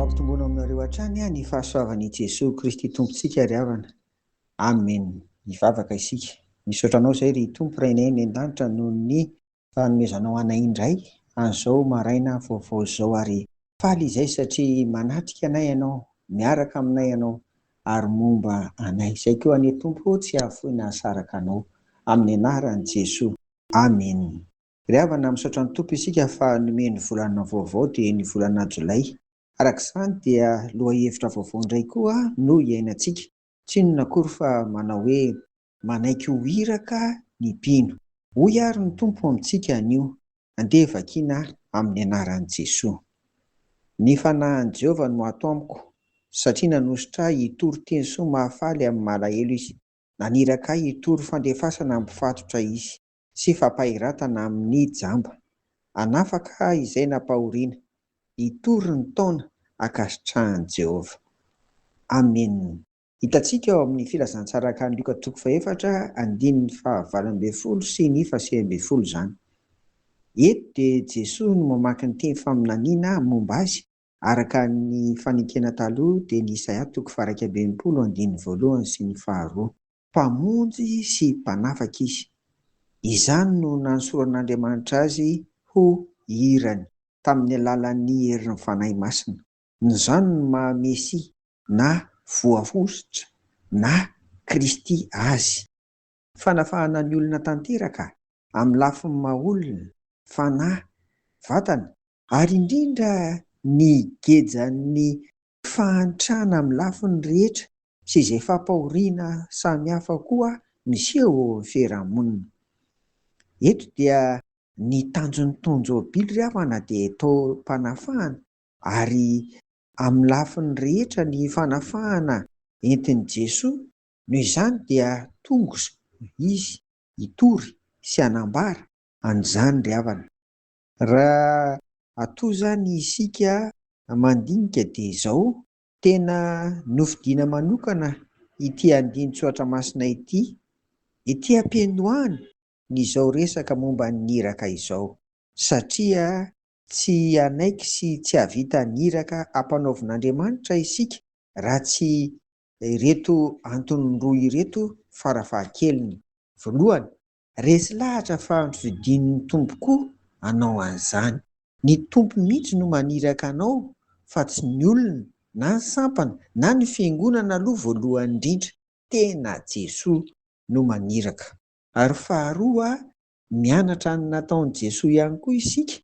Mampitomboana aminareo hatrany ny fahasoavan' i Jesoa Kristy Tompontsika ry havana. Amen. Hivavaka isika. Misaotra Anao izay ry Tompo Rainay any an-danitra noho ny fanomezanao anay indray an'izao maraina vaovao izao ary faly izay satria manatrika anay Ianao, miaraka aminay Ianao ary momba anay. Izay koa anie Tompo ô tsy hahafoy nahasaraka Anao. Amin'ny anaran'i Jesoa. Amen. Ry havana misaotra ny Tompo isika fa nomeny ny volana vaovao dia ny volana jolay. Araka izany dia lohahevitra vaovao indray koa no iainantsika. Tsy inona akory fa manao hoe manaiky ho iraka ny mpino. Hoy ary ny Tompo amintsika anio, andeha vakiana amin'ny anaran'i Jesoa. Ny fanahin'i Jehovah no ato amiko, satria nanosotra ahy hitory teny soa mahafaly amin'ny malahelo izy. Naniraka ahy hitory fandefasana am-pifatotra izy sy fampahiratana amin'ny jamba. Hanafaka aho izay nampahoriana. Hitory ny taona ankasitrahan'i Jehovah. Amena. Hitantsika ao amin'ny Filazantsaran'i Lioka toko fahefatra andininy fahavalo ambin'ny folo sy ny fahasivy ambin'ny folo izany. Eto dia Jesoa no mamaky ny teny faminaniana momba azy Araka ny fanekena taloha dia ny Isaia toko faha iraika ambin'ny folo andininy voalohany sy ny faharoa. Mpamonjy sy Mpanafaka Izy. Izany no nansoran'Andriamanitra Azy ho hirany tamin'ny alalan'ny herin'ny Fanahy Masina. Izany no maha Mesia, na Voahosotra, na Kristy Azy. Fanafahana ny olona tanteraka amin'ny lafiny maha olona, fanahy, vatana, ary indrindra ny gejan'ny fahantrana amin'ny lafiny rehetra sy izay fampahoriana samihafa koa miseho eo amin'ny fiarahamonina. Eto dia ny tanjon'ny Tonjobily ry havana dia taom-panafahana ary amin'ny lafiny rehetra ny fanafahana entin'i Jesoa Noho izany dia tongos izy hitory sy hanambara an'izany ry havana. Raha atoa izany isika mandinika dia izao. Tena nofidiana manokana ity andinin-tsoratra masina ity ety am-piandohana n'izao resaka momba ny iraka izao, satria tsy hanaiky sy tsy hahavita ny iraka ampanaovin'Andriamanitra isika raha tsy Ireto antony roa ireto farafahakeliny. Voalohany, resy lahatra fa ampifidin'ny Tompo koa anao an'izany. Ny Tompo mihitsy no maniraka anao fa tsy ny olona na ny sampana na ny fiangonana aloha voalohany indrindra, tena Jesoa no maniraka. Ary faharoa, mianatra ny nataon'i Jesoa ihany koa isika,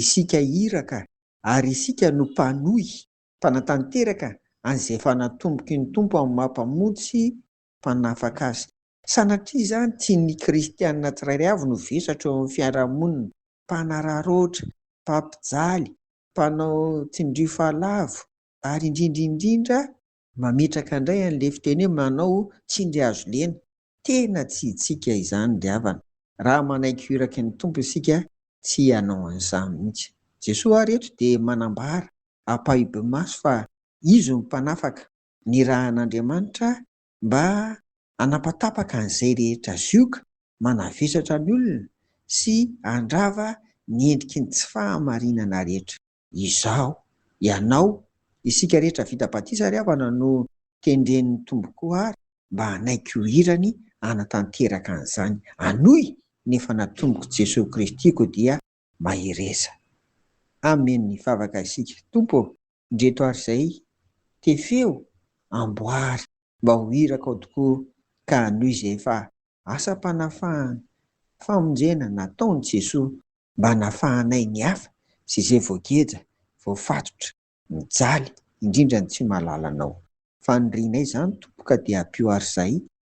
isika iraka ary isika no mpanohy mpanatanteraka an'izay efa natomboky ny Tompo amin'ny maha Mpamonjy sy Mpanafaka azy. Sanatria izany tian'ny kristiana tsirairay avy no vesatra eo amin'ny fiarahamonina, mpanararaotra, mpampijaly, mpanao tsindrio fahalavo, ary indrindra indrindra, mametraka indray an'ilay fiteny hoe manao tsindry hazo lena, tena tsy hitsika izany ry havana, raha manaiky hoiraky ny Tompo isika tsy hanao an'izany mihitsy. Jesoa ary eto dia manambara ampahibe-maso fa Izy no Mpanafaka, nirahan'Andriamanitra mba hanapatapaka an'izay rehetra zioga manavesatra ny olona sy handrava ny endriky ny tsy fahamarinana rehetra. Izaho, ianao, isika rehetra vita batisa ry havana no tendren'ny Tompo koa ary mba hanaiky ho hirany hanatanteraka an'izany. Anoy ny efa natomboko Jesoa Kristy-ko dia mahereza. Amen hivavaka isika Tompo ô! Ndreto ary zay te feo amboary mba ho iraka ao tokoa ka hanohy izay efa asam-panafahana famonjena nataony Jesoa mba hanafahanay ny hafa sy izay voageja voafatotra mijaly indrindra ny tsy mahalala anao fanirianay izany Tompo ka dia ampio ary zay